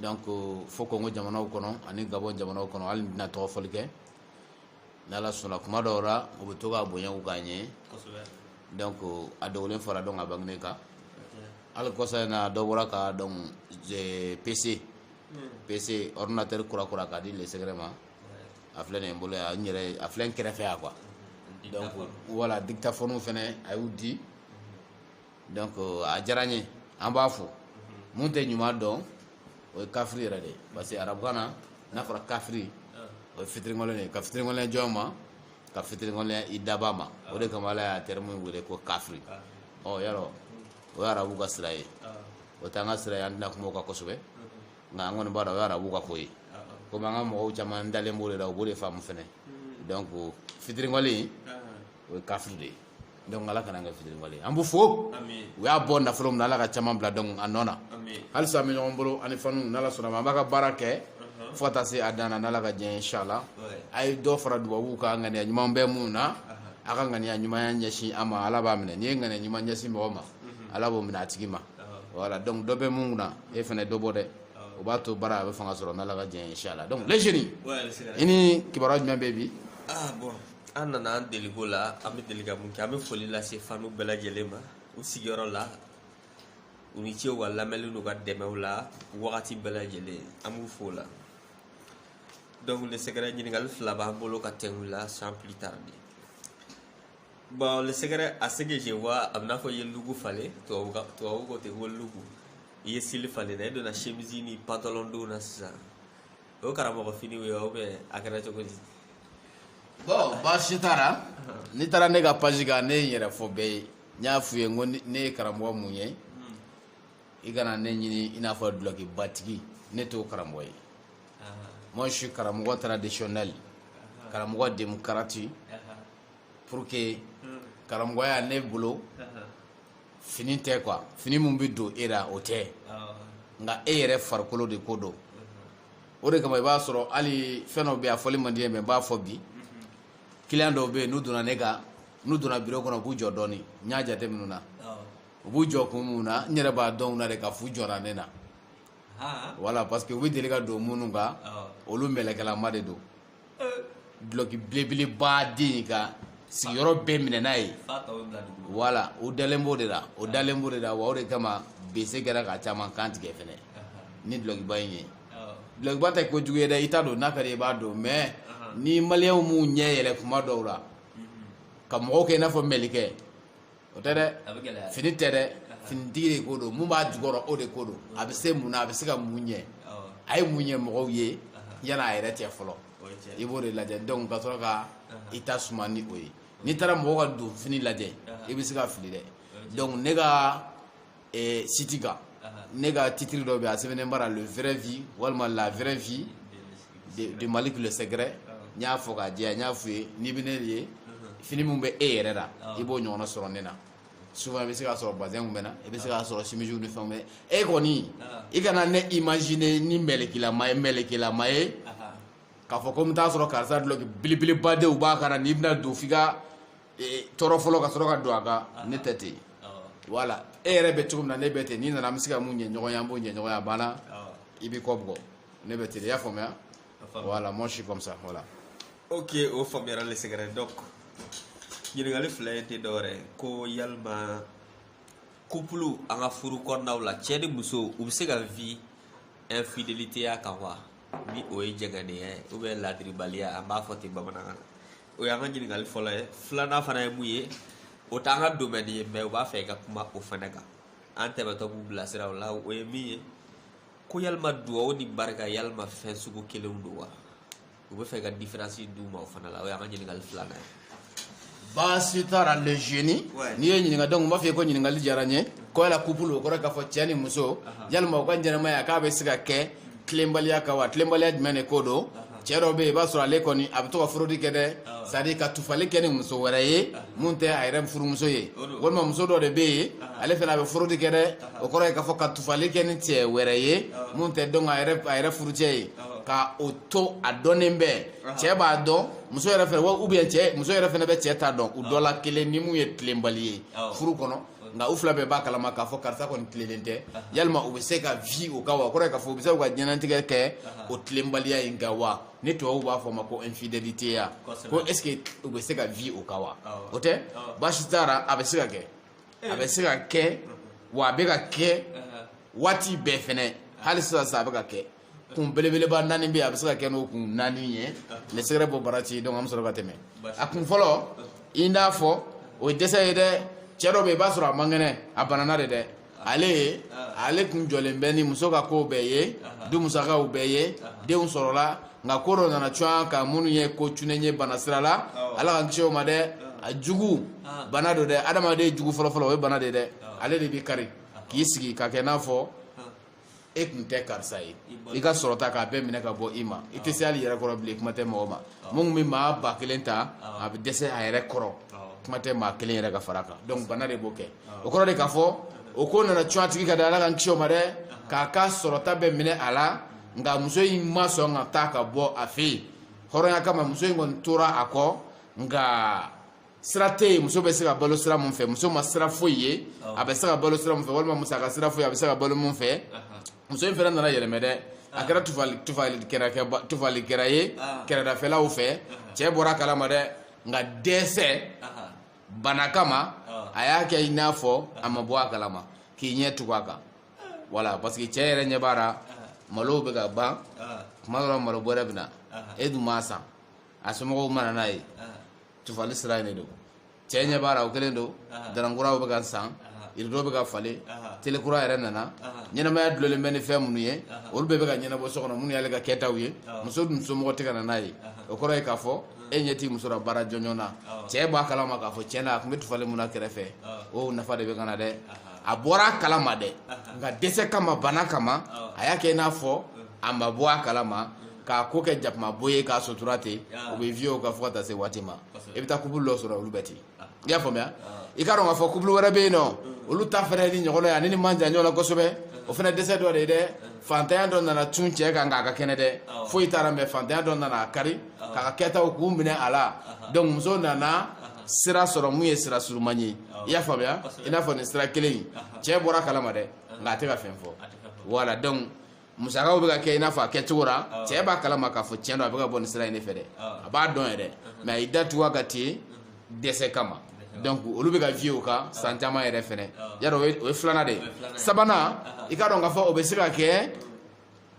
donc fo kongo jamanaw kɔnɔ ani gabɔn jamanaw kɔnɔ hali an tɛna tɔgɔ fɔli kɛ n'ala sɔnna kuma dɔw la u bɛ to k'a bonya k'a ɲɛ donc a dogolen fara donc a bange kan hali kɔsa in na dɔ bɔra ka donc PC PC ordinateur kura kura k'a di le secret ma a filɛ nin bolo a yɛrɛ a filɛ kɛrɛfɛ yan quoi voilà dictaphone fɛnɛ a y'u di donc a diyara n ye an b'a fo mun tɛ ɲuman dɔn o ye kafiri yɛrɛ de ye parce que arabukan na n'a fɔra kafiri o ye fitiriwale de ye ka fitiriwale jɔn ma ka fitiriwale i dabaa ma o de kama ala y'a terme wele ko kafiri o yɔrɔ o ye arabu ka sira ye o t'an ka sira ye an tɛna kuma o kan kosɛbɛ nka an kɔni b'a dɔn o ye arabu ka ko ye komi an ka mɔgɔw caman dalen b'o de la u b'o de faamu fɛnɛ donc fitiriwale o ye kafiri de ye donc ala kana an kɛ fitiriwale ye an b'u fo u y'a bɔ nafolo min na ala ka caman bila donc a nɔ na halisa an bɛ ɲɔgɔn bolo ani fanw n'ala sɔnn'a ma an b'a ka baara kɛ uh-huh. fo ka taa se a dan na n'ala ka diɲɛ inshala a ye dɔ fara dubabuw kan ŋaniya ɲuman bɛ mun na uh-huh. a ka ŋaniya ɲuman ɲɛsin an ma ala b'a minɛ n'i ye ŋaniya ɲuman ɲɛsin mɔgɔ ma uh-huh. ala b'o minɛ a tigi ma voilà donc dɔ bɛ mun na e fana dɔ bɔ dɛ o b'a to baara a bɛ fanga sɔrɔ n'ala ka diɲɛ inshala donc le génie i ni kibaruya jumɛn bɛ bi ah, an nana an deliko la an bɛ deli ka mun kɛ an bɛ foli lase fanw bɛɛ lajɛlen ma u sigiyɔrɔ la u ni ce wa lamɛnni n'u ka dɛmɛw la wagati bɛɛ lajɛlen an b'u fo o la donc le secret ɲininkali fila b'an bolo ka tɛmɛ u la sans plus tarder bon le secret à ce que je vois a bɛ i n'a fɔ i ye look falen tubabu ka tubabu ko ten ko look i ye style falen na i donna chemise ni pantalon don na sisan o ye karamɔgɔ fini ye aw bɛ a kɛra cogo di bon baasi t'a la n'i taara ne ka page kan ne ye n yɛrɛ fɔ bɛɛ ye n y'a f'u ye n ko ne ye karamɔgɔ mun ye i kana ne ɲini i n'a fɔ dulɔkibatigi ne t'o karamɔgɔ ye moi je suis karamɔgɔ traditionnel karamɔgɔ démocrate pour que karamɔgɔya ne bolo fini tɛ quoi fini min bɛ don e la o tɛ nka e yɛrɛ farikolo de ko don o de kama i b'a sɔrɔ hali fɛn dɔw bɛ yen a fɔli man di n ye mais n b'a fɔ bi kiliyan dɔw bɛ yen n'u donna ne kan n'u donna biro kɔnɔ u b'u jɔ dɔɔni n y'a jateminɛ u la u b'u jɔ kun min na n yɛrɛ b'a dɔn u la de k'a f'u jɔra ne na voilà parce que u bɛ deli ka don minnu kan olu mɛlɛkɛlama de don dulɔki belebeleba den in ka sigiyɔrɔ bɛɛ minɛ n'a ye voilà o dalen b'o de la o dalen b'o de la wa o de kama bese kɛra ka caman kan tigɛ fɛnɛ ni dulɔkiba in ye dulɔkiba tɛ ko jugu ye dɛ i ta don n'a ka di i b'a don mais ni maliyɛnw m'u ɲɛ yɛlɛ kuma dɔw la ka mɔgɔw kɛ i n'a fɔ mɛlɛkɛ o tɛ dɛ fini tɛ dɛ finitigi de ko don mun b'a jukɔrɔ o de ko don a bɛ se mun na a bɛ se ka mun ɲɛ a ye mun ɲɛ mɔgɔw ye yanni a yɛrɛ cɛ fɔlɔ i b'o de lajɛ donc ka sɔrɔ ka i ta suma ni o ye n'i taara mɔgɔw ka donfini lajɛ i bɛ se ka fili dɛ donc ne ka eh, site kan ne ka titiri dɔ bɛ a sɛbɛnnen b'a la le vrai vie walima la vraie vie de, de malik le secret n y'a fɔ k'a jɛya n y'a f'u ye n'i bɛ ne de ye fini min bɛ e yɛrɛ la i b'o ɲɔgɔnna sɔrɔ ne na souvent i bɛ se k'a sɔrɔ bazin bɛ n na i bɛ se k'a sɔrɔ simisiw ni fɛnw bɛ e kɔni i kana ne imaginer ni mɛlɛkilama ye k'a fɔ ko n bɛ taa sɔrɔ karisa dulɔki belebeleba de b'a kan na n'i bɛna don f'i ka tɔɔrɔ fɔlɔ ka sɔrɔ ka don a kan ne tɛ ten voilà e yɛrɛ bɛ cogo min na ne bɛ ten n'i nana an bɛ se ka mun ɲɛ ɲɔgɔn ye an b'o ɲɛ ɲɔgɔn ye a banna i b'i kɔ bugɔ ne bɛ ten i y'a faamuya voilà moi je suis comme ça voilà ok o faamuyara le secret donc ɲininkali fila ye tɛ dɔwɛrɛ ye ko yalima couple an ka furu kɔnɔnaw la cɛ ni muso u bɛ se ka vie infidélité ya kan wa ni o ye jɛngɛnenya ye ou bien ladiribaliya an b'a fɔ ten bamanankan na o y'an ka ɲininkali fɔlɔ ye filanan fana ye mun ye o t'an ka domaine ye mais u b'a fɛ i ka kuma o fana kan an tɛmɛtɔ b'u bilasira o la o ye min ye ko yalima duwawu ni barika yalima fɛn sugu kelenw don wa u b'a fɛ ka différence d'u ma o fana la o y'an ka ɲininkali filanan ye baasi t'a la le jeune n'i ye n ɲininka donc n b'a f'i ye ko ɲininkali diyara n ye ko yala couple o kɔrɔ k'a fɔ cɛ ni muso yalima u ka ɲɛnamaya k'a bɛ se ka kɛ tilenbaliya kan wa tilenbaliya jumɛn de ko don cɛ dɔ bɛ yen i b'a sɔrɔ ale kɔni a bɛ to ka forodi kɛ dɛ c'est à dire ka tufali kɛ ni muso wɛrɛ ye mun tɛ a yɛrɛ furumuso ye walima muso dɔ de bɛ yen ale fana a bɛ forodi kɛ dɛ o kɔrɔ ye k'a fɔ ka tufali kɛ ni cɛ wɛrɛ ye mun tɛ donc a yɛrɛ furucɛ ye ka o to a dɔnnen bɛ cɛ b'a dɔn muso yɛrɛ fana ou bien muso yɛrɛ fana bɛ cɛ ta dɔn u dɔ la kelen ni mun ye tilenbali ye furu kɔnɔ nka u fila bɛɛ b'a kalama k'a fɔ karisa kɔni tilennen tɛ yalima u bɛ se ka vi o kan wa o kɔrɔ ye k'a fɔ u bɛ se ka diɲɛlatigɛ kɛ o tilenbaliya in kan wa ni tubabuw b'a fɔ o ma ko infidélité ya ko est ce que u bɛ se ka vi o kan wa o tɛ baasi t'a la a bɛ se ka kɛ a bɛ se ka kɛ wa a bɛ ka kɛ waati bɛɛ fɛnɛ hali sisan sa a bɛ ka kɛ kun belebeleba naani bɛ yen a bɛ se ka kɛ n'o kun naani ye le secret b'o bara ci donc an bɛ sɔrɔ ka tɛmɛ a kun fɔlɔ i n'a fɔ o ye dɛsɛ ye dɛ cɛ dɔ bɛ yen i b'a sɔrɔ a man kɛnɛ a banana de dɛ ale ye ale kun jɔlen bɛ ni muso ka kow bɛɛ ye du musakaw bɛɛ ye denw sɔrɔla nka ko dɔ nana cun a kan minnu ye ko cunnen ye bana sira la ala k'an kisi o ma dɛ a jugu bana don dɛ adamaden jugu fɔlɔfɔlɔ o ye bana de dɛ ale de b'i kari k'i sigi ka kɛ n'a fɔ e kun tɛ karisa ye i ka sɔrɔta k'a bɛɛ minɛ ka bɔ i ma i tɛ se hali yɛrɛ kɔrɔ bilen kuma tɛ mɔgɔ ma mun bɛ maa ba kelen ta a bɛ dɛsɛ a yɛrɛ kɔrɔ kuma tɛ maa kelen yɛrɛ ka fara kan donc bana de b'o kɛ o kɔrɔ de k'a fɔ o ko nana cun a tigi ka da ala k'an kisi o ma dɛ k'a ka sɔrɔta bɛɛ minɛ a la nka muso in ma sɔn ka taa ka bɔ a fɛ yen hɔrɔnya kama muso in kɔni tora a kɔ nka sira tɛ yen muso bɛ se ka balo sira mun fɛ muso ma sira foyi ye a bɛ se ka balo sira mun fɛ walima musaka sira foyi a bɛ se ka balo mun fɛ muso in fana nana yɛlɛmɛ dɛ a kɛra tufali tufali kɛra kɛ tufali kɛra ye kɛrɛdafɛlaw fɛ cɛ bɔra a kalama dɛ nka dɛsɛ bana kama a y'a kɛ i n'a fɔ a ma bɔ a kalama k'i ɲɛ tugu a kan voilà parce que cɛ yɛrɛ ɲɛ b'a la malow bɛ ka ban tuma dɔ la malo bɔrɛ bɛ na e dun m'a san a somɔgɔw ma na n'a ye tufali sira in de don cɛ ɲɛ b'a la o kelen don dara kuraw bɛ ka san irido bɛ ka falen tele kura yɛrɛ nana ɲɛnamaya dulolen bɛ ni fɛn minnu ye olu bɛɛ bɛ ka ɲɛnabɔ so kɔnɔ minnu y'ale ka kɛtaw ye muso dun somɔgɔ tɛ ka na n'a ye o kɔrɔ ye k'a fɔ e ɲɛ t'i muso la baara jɔnjɔn na cɛ b'a kalama k'a fɔ tiɲɛ na a tun bɛ tufali mun na kɛrɛfɛ o nafa de bɛ ka na dɛ a bɔra a kalama dɛ nka dɛsɛ kama bana kama a y'a kɛ i n'a fɔ a ma bɔ a kalama k'a ko kɛ jakuma bo ye k'a sotura ten u bɛ vie o kan fo ka taa se waati ma i bɛ taa couple dɔ sɔrɔ olu bɛ ten ah. i y'a faamuya ah. i k'a dɔn k'a fɔ couple wɛrɛ bɛ yen nɔ mm. olu ta fana nin ɲɔgɔn ye ani nin man jan ɲɔgɔn na kosɛbɛ mm. o fana dɛsɛ dɔ de ye dɛ mm. fantanya dɔ nana cun cɛ kan k'a ka kɛnɛ dɛ ah. foyi t'a ra mais fantanya dɔ nana a kari k'a ka kɛtaw k'u minɛ a la uh-huh. donc muso nana uh-huh. sira sɔrɔ mun ye sira surunman ye i y'a faamuya i n'a fɔ nin sira kelen in uh-huh. cɛ bɔra a kalama dɛ nka a tɛ ka fɛn fɔ voilà donc musakaw bɛ ka kɛ i n'a fɔ a kɛcogo la ah. cɛ b'a kalama k'a fɔ tiɲɛ don a bɛ ka bɔ nin sira in de fɛ dɛ ah. a b'a dɔn yɛrɛ uh-huh. mais a y'i da tugu a kan ten uh-huh. dɛsɛ kama donc olu bɛ ka vie o kan ah. san caman yɛrɛ fɛnɛ y'a rɔ o ye filanan de ye sabanan i k'a dɔn k'a fɔ o bɛ se ka kɛ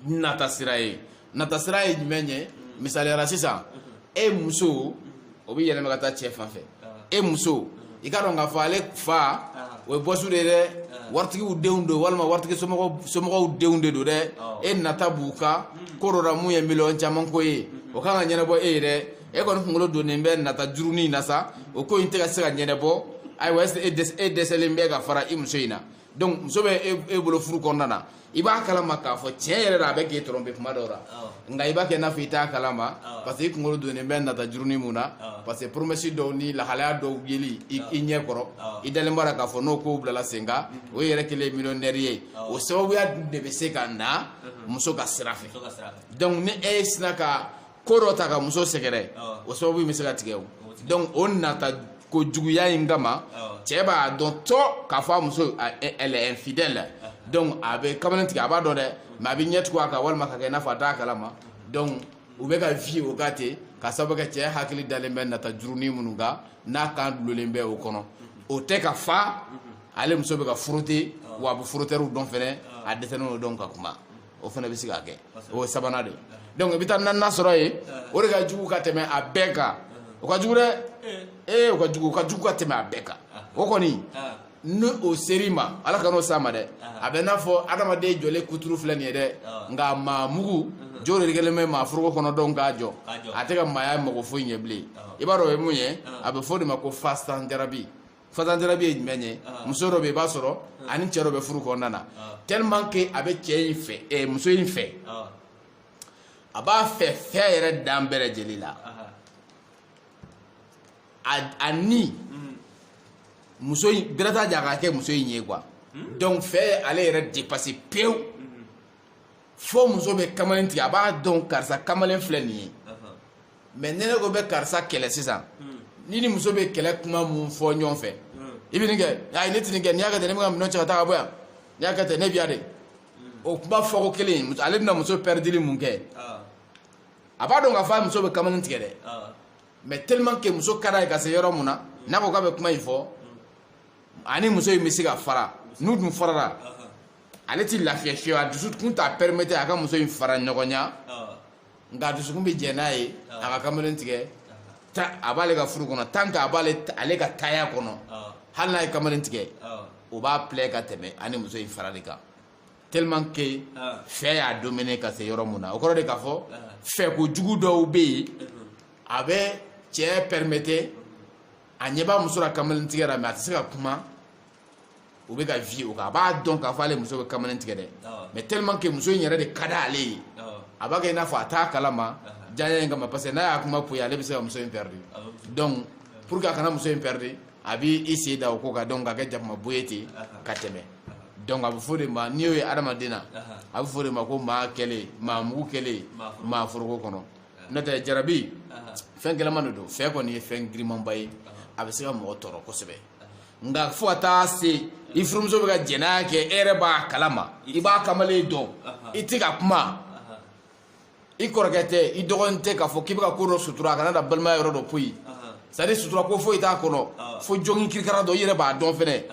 nata sira ye nata sira ye jumɛn ye mm. misaliya la sisan mm-hmm. e muso mm-hmm. o bɛ yɛlɛma ka taa cɛ fan fɛ e muso i k'a dɔn k'a fɔ ale fa o ye bɔsu de ye dɛ waritigiw denw don walima waritigi somɔgɔw denw de don dɛ e nata b'u ka ko dɔ la mun ye miliyɔn caman ko ye o kan ka ɲɛnabɔ e ye dɛ e kɔni kunkolo donnen bɛ nata jurunin na sa o ko in tɛ ka se ka ɲɛnabɔ ayiwa est-ce que e dɛsɛ- e dɛsɛlen bɛ ka fara i muso in na donc muso bɛ e bolo furu kɔnɔna na i b'a kalama k'a fɔ tiɲɛ yɛrɛ la a bɛ k'e tɔrɔnpe kuma dɔw la nka i b'a kɛ i n'a fɔ i t'a kalama parce que i kunkolo donnen bɛ nata jurunin mun na parce que promesse dɔw ni lahalaya dɔw yeli i ɲɛ kɔrɔ i dalen b'a la k'a fɔ n'o kow bilala sen kan o yɛrɛ kɛlen ye miliyɔnɛri ye o sababuya de bɛ se ka na muso ka sira fɛ donc ni e sina ka ko dɔ ta ka muso sɛgɛrɛ o sababu in bɛ se ka tigɛ o donc o nata ko juguya in kama cɛ b'a dɔn tɔ k'a fɔ a muso elle est infidèle donc a bɛ kamalen tigɛ a b'a dɔn dɛ mais a bɛ ɲɛ tugu a kan walima ka kɛ i n'a fɔ a t'a kalama donc u bɛ ka vie o kan ten ka sababu kɛ cɛ hakili dalen bɛ nata jurunin minnu kan n'a kan dulonlen bɛ o kɔnɔ o tɛ k'a fɔ ale muso bɛ ka frotter wa a bɛ frotteurw dɔn fɛnɛ a dɛsɛlen don dɔn ka kuma o fɛnɛ bɛ se ka kɛ o ye sabanan de donc i bɛ taa naaninan sɔrɔ yen o de ka jugu ka tɛmɛ a bɛɛ kan o ka jugu dɛ ee o ka jugu o ka jugu ka tɛmɛ a bɛɛ kan o kɔni ni o ser'i ma ala kan'o s'an ma dɛ a bɛ n'a fɔ adamaden jɔlen kuturu filɛ nin ye dɛ nka maa mugu jo de kɛlen bɛ maa foroko kɔnɔ dɔn k'a jɔ a tɛ ka maaya mago foyi ɲɛ bilen i b'a dɔn o ye mun ye a bɛ fɔ o de ma ko fasan jarabi fasan jarabi ye jumɛn ye ah. muso dɔ bɛ i b'a sɔrɔ ah. ani cɛ dɔ bɛ furu kɔnɔna na ah. tellement que a bɛ cɛ in fɛ eh, muso in fɛ a b'a fɛ fɛ yɛrɛ dan bɛɛ lajɛlen la a ni mm. muso in bɛrɛ t'a jɛ a ka kɛ muso in ye quoi hmm? donc fɛ ye ale yɛrɛ dépasser pewu mm-hmm. fo muso bɛ kamalen tigɛ a b'a dɔn karisa kamalen filɛ nin ye. mais ne ne ko bɛ karisa kɛlɛ sisan hmm. n'i n'i muso bɛ kɛlɛ kuma mun fɔ ɲɔgɔn fɛ hmm. i bɛ nin kɛ ayi ne tɛ nin kɛ n'i y'a kɛ ten ne bɛ n ka minɛn cɛ ka taa ka bɔ yan n'i y'a kɛ ten ne bɛ yan de hmm. o kuma fɔko kelen ale bɛna muso pɛridili mun kɛ ah. a b'a dɔn k'a fɔ a muso bɛ kamalen tigɛ dɛ ah. mais tellement que muso ka d'a ye ka se yɔrɔ mun na n'a ko k'a bɛ kuma in fɔ a ni muso in bɛ se ka fara n'u dun farara ah, ale tɛ lafiya fiyewu a dusukun t'a permettre a ka muso in fara ɲɔgɔn na. nka a dusukun bɛ jɛ n'a ye a ka kamalen tigɛ a b'ale ka furu kɔnɔ tant que a b'ale ale ka taya kɔnɔ hali n'a ye kamalen tigɛ o b'a plaît ka tɛmɛ a ni muso in farali kan tellement que fɛ y'a dominer ka se yɔrɔ mun na o kɔrɔ de k'a fɔ fɛ kojugu dɔw bɛ yen a bɛ cɛ permettre a ɲɛ b'a muso la kamalen tigɛ la mais a tɛ se ka kuma o bɛ ka vie o kan a b'a dɔn k'a fɔ ale muso bɛ kamalen tigɛ dɛ mais tellement que muso in yɛrɛ de ka d'ale ye a b'a kɛ i n'a fɔ a t'a kalama diyaɲɛ in kama parce que n'a y'a kuma poyi ale bɛ se ka muso in perdre donc pour que a kana muso in perdre a b'i sen da o ko kan donc ka kɛ jakuma bo ye ten ka tɛmɛ donc a bɛ fɔ de ma n'i y'o ye adamaden na a bɛ fɔ de ma ko maa kɛlen maa mugu kɛlen maa foroko kɔnɔ n'o tɛ jarabi fɛn gɛlɛman de don fɛ kɔni ye fɛn girinmanba ye a bɛ se ka mɔgɔ tɔɔrɔ kosɛbɛ nka fo ka taa se i furumuso bɛ ka jɛnɛya kɛ e yɛrɛ b'a kalama i b'a kamalen dɔn i tɛ ka kuma i kɔrɔkɛ tɛ i dɔgɔnin tɛ k'a fɔ k'i bɛ ka ko dɔ sutura a kana da balimaya yɔrɔ dɔ poyi c'est à dire sutura ko foyi t'a kɔnɔ fo jɔnkin kirikara dɔ i yɛrɛ b'a dɔn fɛnɛ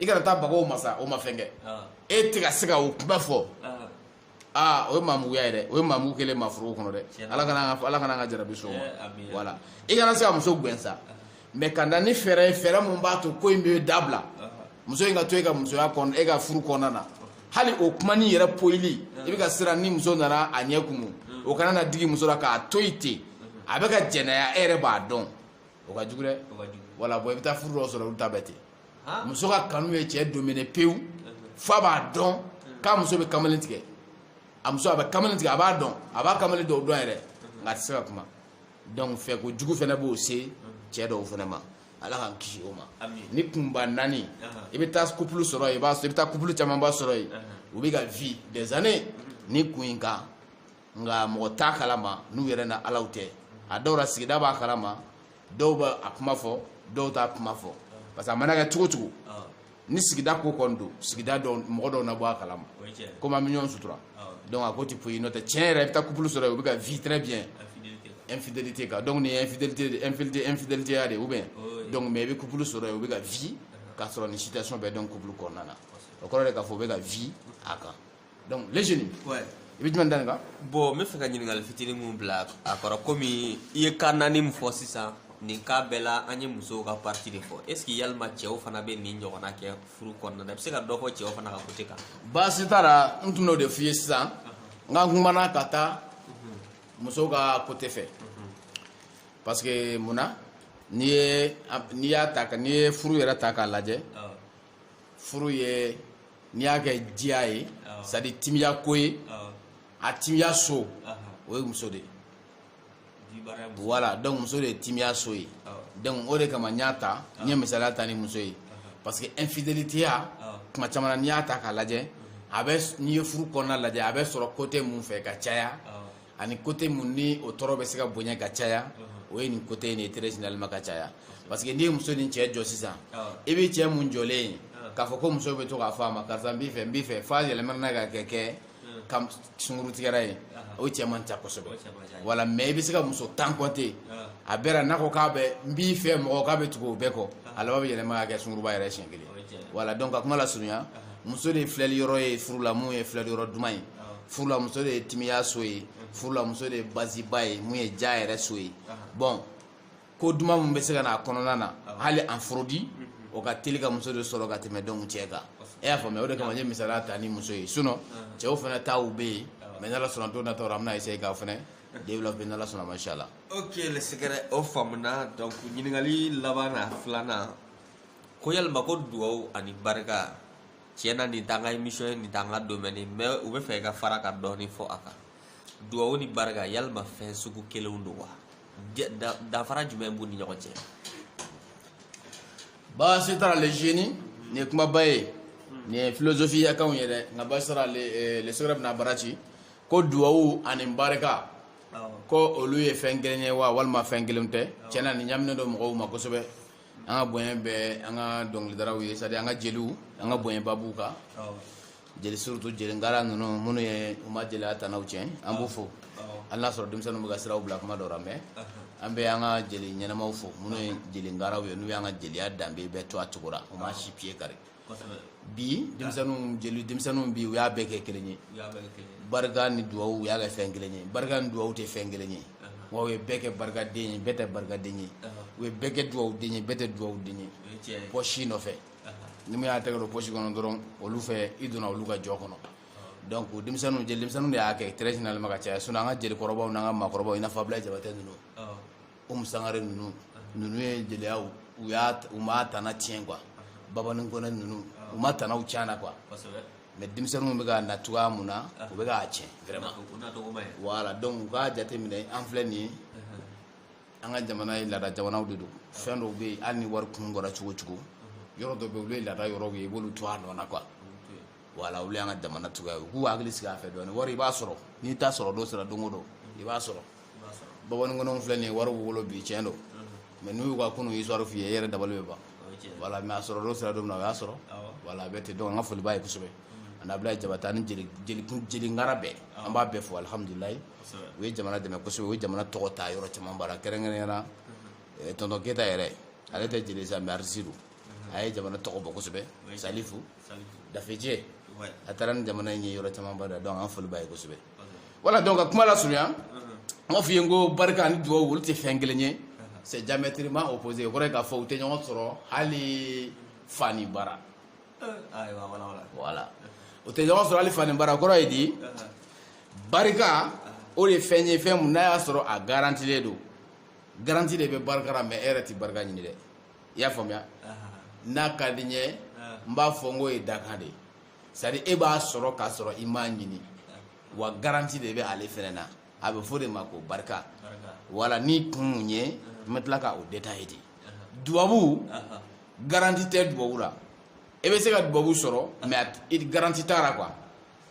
i kana taa bagaw ma sa o ma fɛn kɛ e tɛ ka se ka o kuma fɔ aa o ye maamuguya ye dɛ o ye maamugu kelen maa foroko kɔnɔ dɛ ala kana ala kana ka jarabi so voilà i kana se ka muso gɛn sa mais ka na ni fɛɛrɛ ye fɛɛrɛ min b'a to ko in bɛ dabila muso in ka to e ka musoya kɔnɔ e ka furu kɔnɔna na hali o kumani yɛrɛ poyili i bɛ ka siran ni muso nana a ɲɛ kumu o kana na digi muso la k'a to yen ten a bɛ ka jɛnɛya e yɛrɛ b'a dɔn o ka jugu dɛ voilà bon i bɛ taa furu dɔ sɔrɔ olu ta bɛɛ ten muso ka kanu ye cɛ dominer pewu f'a b'a dɔn k'a muso bɛ kamalen tigɛ a muso a bɛ kamalen tigɛ a b'a dɔn a b'a kamalen dɔw dɔn yɛrɛ nka a tɛ se ka kuma donc fɛ ko jugu fɛnɛ b'o se cɛ dɔw fɛnɛ ma ala k'an kisi o ma ni kunba naani i bɛ taa couple sɔrɔ yen i bɛ taa couple camanba sɔrɔ yen u bɛ ka vie des années ni kun in kan nka mɔgɔ t'a kalama n'u yɛrɛ n'ala tɛ a dɔw la sigida b'a kalama dɔw bɛ a kuma fɔ dɔw t'a kuma fɔ parce que a mana kɛ cogo cogo ni sigida ko kɔni don sigida dɔw mɔgɔ dɔw na bɔ a kalama komi an bɛ ɲɔgɔn sutura donc a ko ti poyi n'o tɛ tiɲɛ yɛrɛ i bɛ taa couple sɔrɔ u bɛ ka vie très bien infidélité kan donc nin ye infidélité de infidélité infidélité ya de ou bien donc mais i bɛ couple sɔrɔ yen u bɛ ka vie k'a sɔrɔ nin situation bɛɛ dɔn couple kɔnɔna na o kɔrɔ de k'a fɔ u bɛ ka vie a kan donc les jeunes i bɛ jumɛn da nin kan bon n bɛ fɛ ka ɲininkali fitinin min bila a kɔrɔ komi i ye cas naani min fɔ sisan nin cas bɛɛ la an ye musow ka partie de fɔ est ce que yalima cɛw fana bɛ nin ɲɔgɔnna kɛ furu kɔnɔna na i bɛ se ka dɔ fɔ cɛw fana ka côté kan baasi t'a la n tun n'o de f'i ye sisan n ka kumana ka taa musow ka côté fɛ parce que mun na n'i ye n'i y'a ta n'i ye furu yɛrɛ ta k'a lajɛ furu ye n'i y'a kɛ diya ye c'est à dire timiya ko ye a timiya so o ye muso de ye voilà donc muso de ye timiya so ye donc o de kama n y'a ta n ye misaliya ta ni muso ye parce que infidélité ya kuma caman na n'i y'a ta k'a lajɛ a bɛ n'i ye furu kɔnɔna lajɛ a bɛ sɔrɔ côté mun fɛ ka caya ani côté mun ni o tɔɔrɔ bɛ se ka bonya ka caya o ye nin côté in de ye très généralement ka caya parce que n'i ye muso ni cɛ jɔ sisan i bɛ cɛ mun jɔlen ye k'a fɔ ko muso bɛ to k'a fɔ a ma karisa n b'i fɛ n b'i fɛ f'a yɛlɛmana n'a ka kɛ kɛ ka sunkurutigɛra ye o cɛ man ca kosɛbɛ voilà mais i bɛ se ka muso tan compter a bɛɛ la n'a ko k'a bɛ n b'i fɛ mɔgɔ k'a bɛ tugu o bɛɛ kɔ a laban bɛ yɛlɛma ka kɛ sunkuruba yɛrɛ siɲɛ kelen voilà donc ka kuma lasurunya muso de ye filɛli yɔrɔ ye furu la mun ye filɛli yɔrɔ duman ye furu la muso de ye timiya so ye furu la muso de ye baziba ye mun ye ja yɛrɛ so ye bon ko duman min bɛ se ka na a kɔnɔna na hali en fraude o ka teli ka muso de sɔrɔ ka tɛmɛ donc cɛ kan e y'a faamuya o de kama n ye misaliya ta ni muso ye sinon cɛw fana taw bɛ yen mais n'ala sɔnna don nataw la an bɛna essayer k'a fana développer n'ala sɔnna masha Allah ok le secret o faamuna donc ɲininkali laban na filanan ko yalima ko duwawu ani barika tiɲɛ na nin t'an ka émission ye nin t'an ka domaine ye mais u b'a fɛ i ka fara ka dɔɔnin fɔ a kan duwawu ni barika yalima fɛn sugu kelenw don wa danfara jumɛn b'u ni ɲɔgɔn cɛ baasi t'a la le génie nin ye kumaba ye nin ye philosophieya kanw ye dɛ nka baasi t'a la le le secret bɛna bara ci ko duwawu ani barika ko olu ye fɛn kelen ye wa walima fɛn kelen tɛ tiɲɛ na nin ɲaminen don mɔgɔw ma kosɛbɛ an ka bonya bɛ an ka dɔnkilidaraw ye c'est-à-dire an ka jeliw an ka bonyaba b'u kan jeli surtout jeli ngara ninnu minnu ye u ma jeliya tanaw tiɲɛ an b'u fo hali n'a sɔrɔ denmisɛnninw bɛ ka siraw bila kuma dɔ la mais an bɛ an ka jeli ɲɛnamaw fo minnu ye jeli ngaraw ye n'u y'an ka jeliya danbe bɛɛ to a cogo la u ma si piye kari bi denmisɛnninw jeli denmisɛnninw bi u y'a bɛɛ kɛ kelen ye barika ni duwawu u y'a kɛ fɛn kelen ye barika ni duwawu tɛ fɛn kelen ye wa u ye bɛɛ kɛ barikaden ye bɛɛ tɛ barikaden ye u ye bɛɛ kɛ duwawuden ye bɛɛ tɛ duwawuden ye pɔsi nɔfɛ ni min y'a tɛgɛ don pɔsi kɔnɔ dɔrɔn olu fɛ i donna olu ka jɔ kɔnɔ donc denmisɛnninw jeli denmisɛnninw de y'a kɛ très généralement ka caya sinon an ka jelikɔrɔbaw n'an ka maakɔrɔbaw i n'a fɔ Abulayi Jabate ninnu Umu Sangare ninnu ninnu ye jeliya u y'a u m'a tana tiɲɛ quoi Babani Kɔnɛ ninnu u ma tanaw tiɲɛ quoi mais denmisɛnninw bɛ ka na cogoya mun na u bɛ k'a tiɲɛ vraiment voilà donc u k'a jateminɛ an filɛ nin ye an ka jamana ye laada jamanaw de don fɛn dɔw bɛ yen hali ni wari kun bɔra cogo cogo yɔrɔ dɔ bɛ yen olu ye laada yɔrɔw ye i b'olu to a nɔ na quoi voilà olu y'an ka jamana cogoya ye u k'u hakili sigi a fɛ dɔɔni wari i b'a sɔrɔ n'i t'a sɔrɔ don sera don o don i b'a sɔrɔ Babani Kɔnɛw filɛ nin ye wari b'u bolo bi tiɲɛ don mais n'u y'u ka kunun histoire f'i ye i yɛrɛ dabali bɛ ban voilà mais a sɔrɔ don sera don min na o y'a sɔrɔ voilà a bɛ ten donc an ka foli b'a ye kosɛbɛ ani Abulayi Jabate ani jeli ngara bɛɛ an b'a bɛɛ fo alihamudulilayi u ye jamana dɛmɛ kosɛbɛ u ye jamana tɔgɔ ta yɔrɔ caman bara kɛrɛnkɛrɛnya na tonton Keyita yɛrɛ ale tɛ jeli sa mais artiste don a ye jamana tɔgɔ bɔ kosɛbɛ Salifu dafejɛ a taara ni jamana in ye yɔrɔ caman bara donc an foli b'a ye kosɛbɛ voilà donc ka kuma lasurunya an b'a f'i ye n ko barika ani duwawu olu tɛ fɛn kelen ye c'est diamétralement opposé o kɔrɔ ye k'a fɔ u tɛ ɲɔgɔn sɔrɔ hali fani bara voilà o tɛ ɲɔgɔn sɔrɔ hali fani bara o kɔrɔ ye di barika o de ye fɛn ye fɛn mun n'a y'a sɔrɔ a garantilen don garanti de bɛ barika la mais e yɛrɛ tɛ barika ɲini dɛ i y'a faamuya n'a ka di n ye n b'a fɔ n k'o ye dakan de ye c'est-à-dire e b'a sɔrɔ k'a sɔrɔ i m'a ɲini wa garanti de bɛ ale fɛnɛ na a bɛ fɔ o de ma ko barika voilà ni kun ye n bɛ tila ka o détailler de dubabu garanti tɛ dubabu la e bɛ se ka dubabu sɔrɔ mais garanti t'a la quoi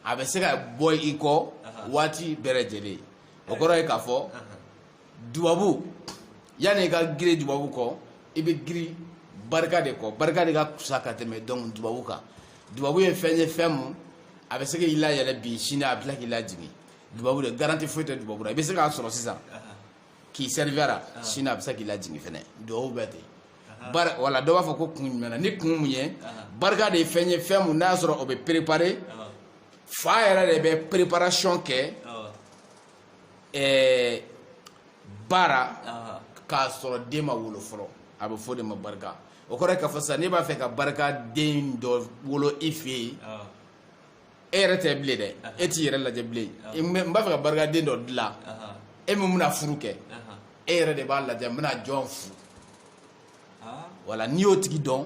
a bɛ se ka bɔ i kɔ waati bɛɛ lajɛlen o kɔrɔ ye k'a fɔ dubabu yanni i ka girin dubabu kɔ i bɛ girin barika de kɔ barika de ka kusa ka tɛmɛ donc dubabu kan dubabu ye fɛn ye fɛn mun a bɛ se k'i layɛlɛ bi sini a bɛ tila k'i lajigin dubabu de garanti foyi tɛ dubabu la i bɛ se k'a sɔrɔ sisan k'i sɛrifiyara sini a bɛ se k'i lajigin fɛnɛ dubabu bɛ ten bari voilà dɔ b'a fɔ ko kun jumɛn na ni kun mun ye barika de ye fɛn ye fɛn mun n'i y'a sɔrɔ o bɛ préparer fa yɛrɛ de bɛ préparation kɛ ɛɛ baara ah. k'a sɔrɔ den ma wolo fɔlɔ a bɛ fɔ o de ma barika o kɔrɔ ye k'a fɔ sisan n'i b'a fɛ ka barika den dɔ wolo i fɛ yen ah. e yɛrɛ tɛ bilen dɛ ah. e t'i yɛrɛ lajɛ bilen n b'a fɛ ka barika den dɔ dilan e min bɛna furu kɛ e yɛrɛ de b'a lajɛ n bɛna jɔn furu voilà n'i y'o tigi dɔn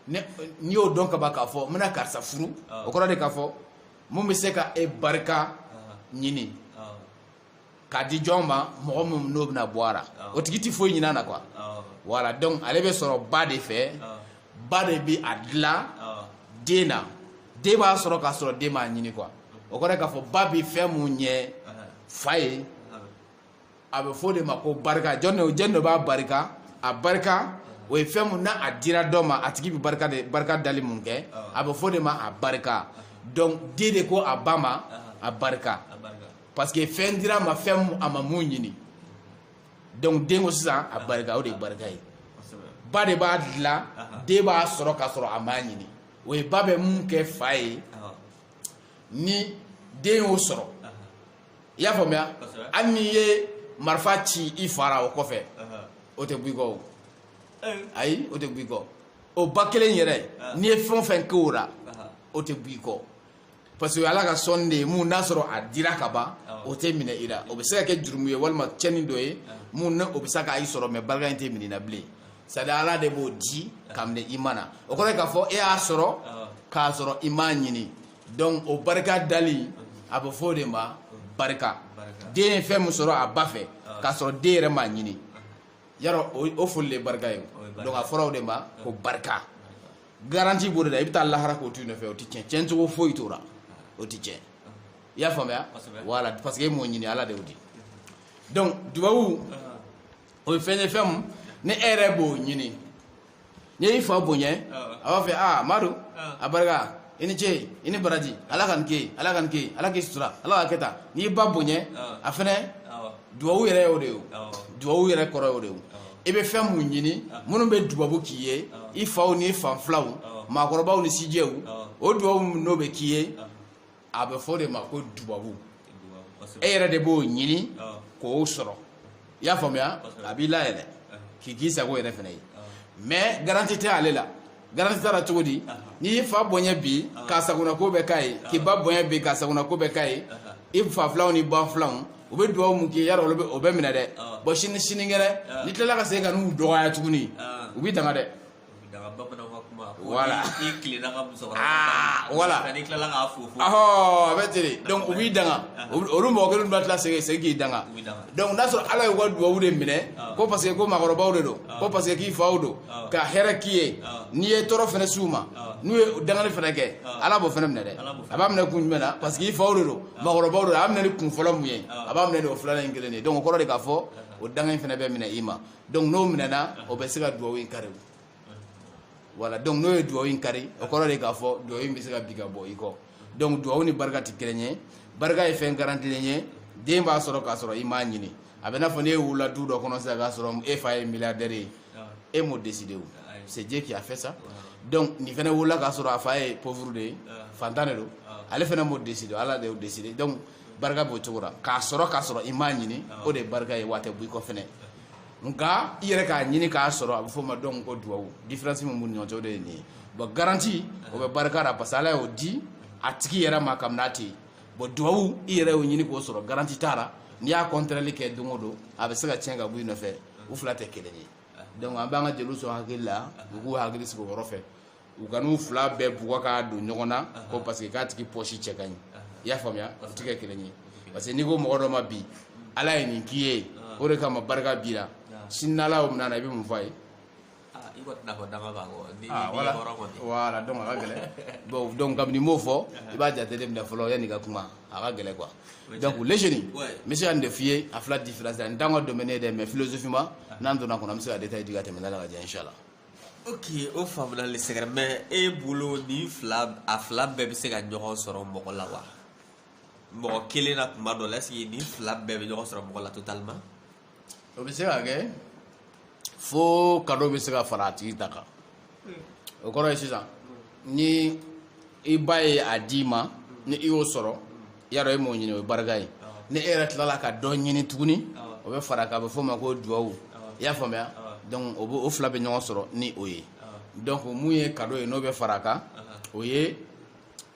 n'i y'o dɔn kaban k'a fɔ n bɛna karisa furu o kɔrɔ de k'a fɔ mun bɛ se ka e barika ɲini k'a di jɔn ma mɔgɔ min n'o bɛna bɔ a la o tigi tɛ foyi ɲin'a na quoi voilà donc ale bɛ sɔrɔ ba de fɛ ba de bɛ a dilan den na den b'a sɔrɔ k'a sɔrɔ den m'a ɲini quoi o kɔrɔ ye k'a fɔ ba bɛ fɛn mun ɲɛ fa ye a bɛ fɔ o de ma ko barika jɔn de jɔn de b'a barika a barika o ye fɛn mun n'a dira dɔ ma a tigi bɛ barika de barika dali mun kɛ a bɛ fɔ o de ma a barika donc den de ko a ba ma a barika parce que fɛn dira a ma fɛn a ma mun ɲini donc den ko sisan a barika o de ye barika ye ba de b'a dilan den b'a sɔrɔ k'a sɔrɔ a m'a ɲini o ye ba bɛ mun kɛ fa ye ni den y'o sɔrɔ i y'a faamuya hali n'i ye marifa ci i fa ra o kɔfɛ o tɛ bɔ i kɔ o ayi o tɛ bɔ i kɔ o ba kelen yɛrɛ n'i ye fɛn o fɛn kɛ o la o tɛ bɔ i kɔ parce que ala ka sɔnni de ye mun n'a sɔrɔ a dira ka ban o tɛ minɛ i la o bɛ se ka kɛ jurumu ye walima cɛnni dɔ ye mun o bɛ se ka i sɔrɔ mais barika in tɛ minɛ i la bilen c'est à dire ala de b'o di ka minɛ i ma na o kɔrɔ ye k'a fɔ e y'a sɔrɔ k'a sɔrɔ i m'a ɲini donc o barika dali a bɛ fɔ o de ma barika den ye fɛn min sɔrɔ a ba fɛ k'a sɔrɔ den yɛrɛ m'a ɲini yarɔ o foli le barika ye donc a fɔra o de ma ko barika garanti b'o de la i bɛ taa lahara k'o to i nɔfɛ o tɛ tiɲɛ tiɲɛcogo foyi t'o la o tɛ tiɲɛ i y'a faamuya voilà parce que e m'o ɲini ala de y'o di donc dubabu o ye fɛn ye fɛn mun ni e yɛrɛ b'o ɲini n'i y'i fa bonya a b'a fɔ aa madu a barika i ni ce i ni baraji ala ka nin kɛ ala ka nin kɛ ala k'i sutura ala ka kɛ tan n'i y'i ba bonya a fɛnɛ duwawu yɛrɛ y'o de ye duwawu yɛrɛ kɔrɔ y'o de ye i bɛ fɛn mun ɲini minnu bɛ dubabu k'i ye i faw ni fa filanw maakɔrɔbaw ni sijɛw o dubabu mun n'o bɛ k'i ye a bɛ f'o de ma ko dubabu e yɛrɛ de b'o ɲini k'o sɔrɔ i y'a faamuya a b'i layɛlɛ k'i k'i sago yɛrɛ fana ye mais garantie tɛ ale la garantie t'a la cogo di n'i y'i fa bonya bi k'a sagona ko bɛɛ k'a ye k'i ba bonya bi k'a sagona ko bɛɛ k'a ye i fa filanw ni ba filanw u bɛ dugawu mun k'i y'a dɔn olu bɛ o bɛ minɛ dɛ bon sini sinikɛnɛ n'i tilala ka segin ka n'u dɔgɔya tuguni u b'i danga dɛ danga bamananw ka kuma ko Voilà. ni- n'i tilenna ka musokɔrɔba Ah, ta, voilà. nka n'i tilala k'a fofo awɔ a bɛ ten de donc u b'i danga Olu- olu mɔgɔ kelen bɛ tila segin segin k'i danga U b'i danga. donc n'a sɔrɔ ala y'u ka dubabu de minɛ Ah. ko parce que ko maakɔrɔbaw de don Ah. ko parce que k'i faw don Ah. ka hɛrɛ k'i ye Ah. n'i ye tɔɔrɔ fɛnɛ s'u ma Ah. n'u ye dangani fɛnɛ kɛ Ah. ala b'o fɛnɛ minɛ dɛ Ala b'o fɛnɛ a b'a minɛ kun jumɛn na parce que i faw de don maakɔrɔbaw de don a b'a minɛ ni kun fɔlɔ mun ye Ah. a b'a minɛ ni o filanan in kelen de ye donc o kɔrɔ de k'a fɔ o danga in fɛnɛ bɛ minɛ i ma donc n'o minɛna o bɛ se ka duwawu in kari voilà donc n'o ye duwawu in kari o kɔrɔ de k'a fɔ duwawu in bɛ se ka bin ka bɔ i kɔ donc duwawu ni barika tɛ kelen ye barika ye fɛn garantilen ye den b'a sɔrɔ k'a sɔrɔ i m'a ɲini a bɛ n'a fɔ n'e wulila du dɔ kɔnɔ sisan k'a sɔrɔ e fa ye milliardaire ye e m'o décider o c'est Dieu qui a fait ça donc nin fɛnɛ wulila k'a sɔrɔ a fa ye pauvre de ye faantan de don ale fɛnɛ m'o décider ala de y'o décider donc barika b'o cogo la k'a sɔrɔ k'a sɔrɔ i m'a ɲini o de ye barika ye wa a tɛ b'i kɔ fɛnɛ nka i yɛrɛ k'a ɲini k'a sɔrɔ a bɛ f'o ma donc ko duwawu différence min b'u ni ɲɔgɔn cɛ o de ye nin ye bon garantie o bɛ barika la parce que ala y'o di a tigi yɛrɛ ma kabini a tɛ yen bon duwawu i yɛrɛ y'o ɲini k'o sɔrɔ garantie t'a la n'i y'a contraire kɛ don o don a bɛ se ka tiɲɛ ka bɔ i nɔfɛ u fila tɛ kelen ye donc an b'an ka jeliw sɔn hakili la u k'u hakili sigi o yɔrɔ fɛ u kan'u fila bɛɛ bugɔ k'a don ɲɔgɔn na ko parce que k'a tigi pɔsi cɛ ka ɲi i y'a faamuya u ti kɛ kelen ye parce que n'i ko mɔgɔ dɔ ma bi ala ye nin k'i ye o de kama barika b'i la sini n'ala y'o minɛ a la i bɛ mun fɔ a ye voilà donc a ka gɛlɛn bon donc kabini i m'o fɔ i b'a jate de minɛ fɔlɔ yanni i ka kuma a ka gɛlɛn quoi donc les jeunes n bɛ se ka nin de f'i ye a fila différence la nin t'an ka domaine ye dɛ mais philosophiquement n'an donna kɔnɔ an bɛ se ka détail di ka tɛmɛ n'ala k'a diya inchallah ok o faamuna le secret mais e bolo nin fila a fila bɛɛ bɛ se ka ɲɔgɔn sɔrɔ mɔgɔ la wa mɔgɔ kelen na tuma dɔ la est-ce que nin fila bɛɛ bɛ ɲɔgɔn sɔrɔ mɔgɔ la totalement o bɛ se ka kɛ fo cadeau bɛ se ka fara a tigi ta kan o kɔrɔ ye sisan ni i ba ye a d'i ma ni i y'o sɔrɔ yarɔ e m'o ɲini o ye barika ye ni e yɛrɛ tilala ka dɔ ɲini tuguni o bɛ fara a kan a bɛ f'o ma ko duwawu i y'a faamuya donc o bɛ o fila bɛ ɲɔgɔn sɔrɔ ni o ye donc mun ye cadeau ye n'o bɛ fara a kan o ye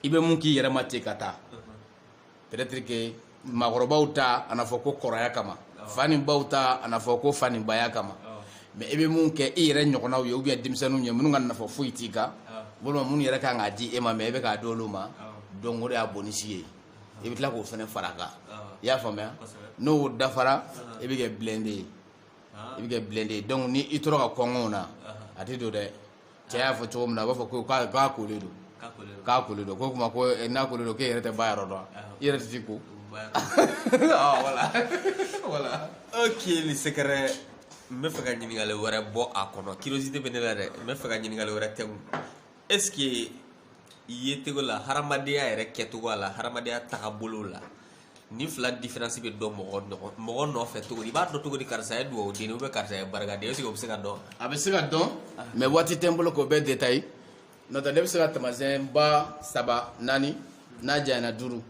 i bɛ mun k'i yɛrɛ ma ten ka taa peut-être que maakɔrɔbaw ta a na fɔ ko kɔrɔya kama fa ni baw ta a na fɔ ko fa ni baya kama mais i bɛ min kɛ i yɛrɛ ɲɔgɔnnaw ye ou bien denmisɛnninw ye minnu ka nafa foyi t'i kan walima minnu yɛrɛ kan k'a di e ma mais i bɛ k'a di olu ma donc o de y'a bonus ye i bɛ tila k'o fana fara kan i y'a faamuya n'o dafara i bɛ kɛ blindé ye i bɛ kɛ blindé ye donc ni i tora ka kɔngɔw na a tɛ don dɛ cɛ y'a fɔ cogo min na a b'a fɔ ko k'a kolen don k'a kolen don ko kuma ko eh, n'a kolen don k'e yɛrɛ tɛ ba yɔrɔ dɔn i yɛrɛ tɛ se ko ah, voilà voilà ok le secret n bɛ fɛ ka ɲininkali wɛrɛ bɔ a kɔnɔ curiosité bɛ ne la dɛ n bɛ fɛ ka ɲininkali wɛrɛ t'i kun est ce que yecogo la hadamadenya yɛrɛ kɛcogo la hadamadenya tagabolo la nin fila différence bɛ dɔn mɔgɔ ɲɔgɔn mɔgɔ nɔfɛ cogo di i b'a dɔn cogo di karisa ye duwawu den ou bien karisa ye barika den est-ce que o bɛ se ka dɔn a bɛ se ka dɔn mais waati tɛ n bolo k'o bɛɛ détailler n'o tɛ ne bɛ se ka taamasiyɛn ba saba naani n'a janyana duuru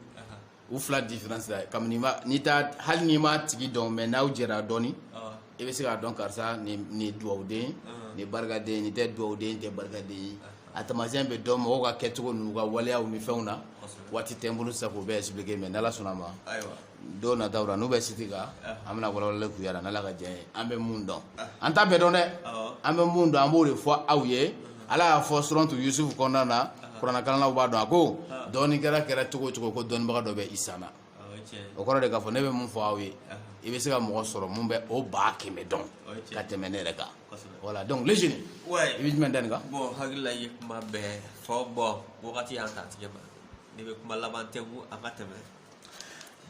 u fila différence la kabini n'i t'a hali n'i m'a tigi dɔn mais n'aw jɛra dɔɔni i bɛ se k'a dɔn karisa nin dugawuden ah. nin barikaden nin tɛ dugawuden tɛ barikaden ye ah. a taamasiyɛn bɛ dɔn mɔgɔw ka kɛcogo n'u ka waleyaw ni fɛnw na waati tɛ n bolo sisan k'o bɛɛ expliquer mais n'ala sɔnna ma don nataw la n'u bɛ siti kan ah. an bɛna walawalali k'u yɛrɛ n'ala ka diɲɛ ye an bɛ mun dɔn an t'a bɛɛ dɔn dɛ an bɛ mun dɔn an b'o de fɔ aw ye ala y'a fɔ suratu yusufu kɔnɔna na kuranakalannaw b'a dɔn a ko dɔnni kɛra kɛra cogo o cogo ko dɔnnibaga dɔ bɛ i sanna o kɔrɔ de k'a fɔ ne bɛ mun fɔ aw ye i bɛ se ka mɔgɔ sɔrɔ mun bɛ o ba kɛmɛ dɔn ka tɛmɛ ne yɛrɛ kan voilà donc les jeunes i bɛ jumɛn da nin kan bon hakili la i ye kuma bɛɛ fɔ bon wagati y'an ta tigɛ ma ne bɛ kuma laban t'i kun an ka tɛmɛ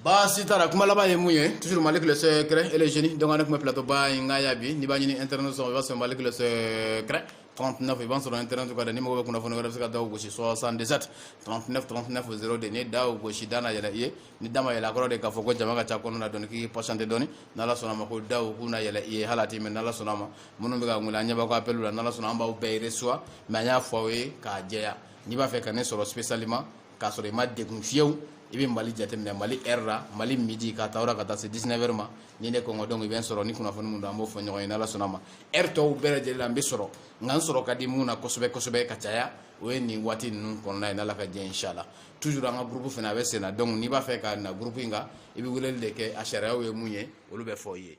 baasi t'a la kuma laban ye mun ye toujours malick le secret et les jeunes donc an na kuma plateau ba in kan yan bi n'i b'a ɲini internet sɔrɔ i b'a sɔrɔ malick le secret 39 i b'a sɔrɔ internet kan dɛ ni mɔgɔ bɛ kunnafoni wɛrɛ bɛ se ka da o gosi 77 39 39 02 ni da o gosi da na yɛlɛ i ye ni da ma yɛlɛ a kɔrɔ de k'a fɔ ko jama ka ca kɔnɔ na dɔɔni k'i patienter dɔɔni n'ala sɔnna ma ko da o k'u na yɛlɛ i ye hali a tɛ mɛɛn n'ala sɔnna ma minnu bɛ ka wele an ɲɛ b'aw ka appel la n'ala sɔnna an b'aw bɛɛ recevoir mais an y'a fɔ aw ye k'a jɛya n'i b'a fɛ ka ne sɔrɔ spécialement k'a sɔrɔ i ma degun fiyewu i bɛ mali jateminɛ mali heure la mali midi ka taa ka taa se 19 heures ma ni ne kunko don i bɛ n sɔrɔ ni kunnafoni mun don an b'o fɔ ɲɔgɔn ye n'ala sɔnna ma heure tɔw bɛɛ lajɛlen la n bɛ sɔrɔ nka n sɔrɔ ka di mun na kosɛbɛ kosɛbɛ ka caya o ye nin waati ninnu kɔnɔna ye n'ala ka diɲɛ inshala toujours an ka gurupu fana a bɛ senna donc n'i b'a fɛ ka na gurupu in kan i bɛ weleli de kɛ a sariyaw ye mun ye olu bɛ fɔ i ye